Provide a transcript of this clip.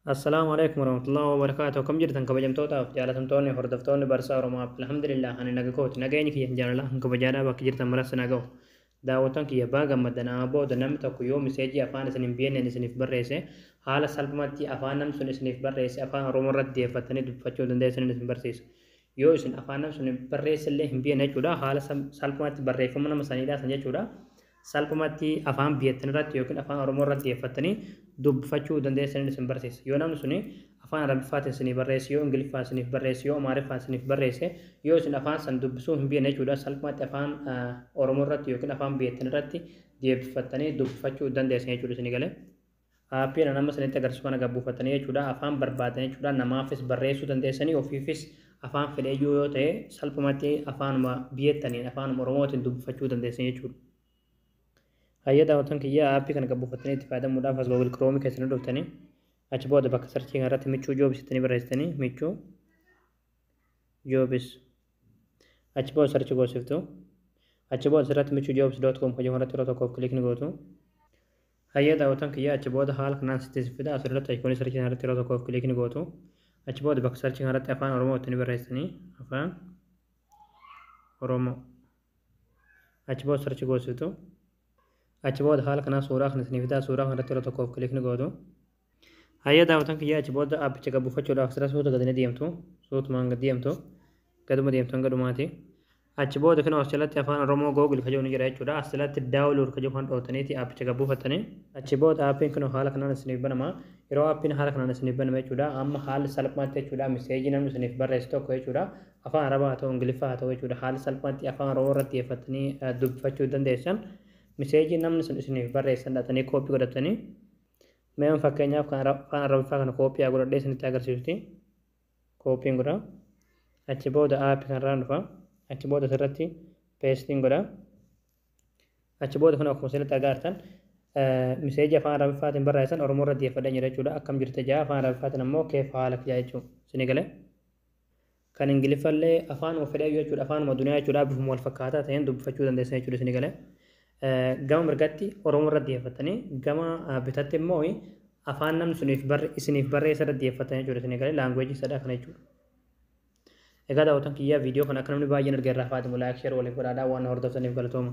Assalaamu Aleykum Warahmatullahi Wabarakaatuh Akkam jirtan kabajamtootaaf jaalatamtoonni hordoftoonni barsaa Oromoo App Alhamdulillah ani naga kooti nageenyi kiyya jaalalaa kan kabajaadhaa bakka jirtan maras na ga'u daawwattoon kiyya baa gammaddan amma booda namni tokko yoo miseejii afaan isin hin beekneen isiniif barreesse haala salphumatti afaan namni sun isiniif barreesse afaan Oromoo irratti deeffattanii dubbifachuu dandeessaniin isin barsiisa yoo isin afaan namni sun barreesse illee hin beekne jechuudha haala salphumatti barreeffama nama saniidhaa san jechuudha salphumatti afaan biyyattin irratti yookiin afaan oromoo irratti xiyyeeffattanii dubbfachuu dandeessaniin isin barsiisa yoo namni suni afaan arabiffaatiin isinii barreesse yoo ingiliffaan isiniif barreesse yoo amaariffaan isiniif barreesse yoo isin afaan san dubbisuu hin beekne jechuudha salphumatti afaan oromoo irratti yookiin afaan biyyattin irratti xiyyeeffattanii dubbfachuu dandeessan jechuudha isinii galee Aappiin an amma isinitti agarsiisu kana gad buufattanii jechuudha afaan barbaaddan jechuudha namaafis barreessuu dandeessanii ofiifis afaan fedheyyuu yoo ta'e salphumatti afaanuma biyyataniin afaanuma oromootiin dubbifachuu dandeessanii jechuudha. Hayya daawwatan kiyya aappii kana gad buufattanii itti fayyadamuudhaaf as Google Chrome keessanii dhuftanii achi booda bakka sarchii kanarratti michuu joobis ittanii barreessitanii michuu joobis achi booda sarchi goosiftu achi booda asirratti michuu joobis doot koom hojii kanarratti yeroo tokkoof kiliikni gootu. Hayyee daawwattoon kiyya achi booda haala kanaan sitti isin fida asirratti ayikoonii sarchii kanarratti yeroo tokkoof kiliik ni gootu achi booda bakka sarchii kanarratti afaan oromoo itti ni barreessanii afaan oromoo achi booda sarchi goositu achi booda haala kanaan suuraa kan isinii fidaa suuraa kanarratti yeroo tokkoof kiliik ni gootu Hayya daawwatan kiyyaa achi booda aappicha gad buufachuudhaaf sira suuta gadi ni deemtu. Suutumaan gad deemtu. Gaduma deemtu hanga dhumaati. Achi booda kinoo as jalatti afaan Oromoo Google ka jedhu ni jira jechuudha. As jalatti daawunlood ka jedhu kan dhootaniiti aappicha gad buufattanii. Achi booda aappiin kinoo haala kanaan isiniif banama. Yeroo aappiin haala kanaan isiniif baname jechuudha. Amma haalli salphaatti jechuudha miseejii namni isiniif barreesse tokko jechuudha. Afaan Arabaa haa ta'u Ingiliffaa haa ta'u jechuudha. Haalli salphaatti afaan Oromoo irratti xiyyeeffattanii dubbifachuu dandeessan. Miseejii namni sun isiniif barreessan dhaxanii kooppii godhattanii Mee an fakkeenyaaf kan Ara- afaan arabiffaa kana kooppiyaa godhadhee isinitti agarsiisuti kooppiin godha achi booda aappi kanarraan dhufa achi booda asirratti peestiin godha achi booda kun akkuma isinitti argaa jirtan eh, miseejii afaan arabiffaatiin barreessan oromoo irra deeffadhee jira jechuudha akkam jirta jaa afaan arabiffaatiin ammoo keef haala kijaa jechuudha isinii galee Kan Ingiliffa illee afaanuma fedheyyuu jechuudha. Afaanuma duniyaa jechuudha. Bifuma wal fakkaataa ta'een dubbifachuu dandeessan jechuudha isin gale. Gama mirgatti Oromoo irra xiyyeeffattanii gama bitatti immoo afaan namni suniif isiniif barreessa irra xiyyeeffattan jechuudha isin gale. Laanguweejii sadhaa kana jechuudha. Egaa daawwatan kiyyaa viidiyoo kana akka namni baay'een arge irraa faatimu laayik sheer waliif godhaadhaa waan hordoftaniif galatooma.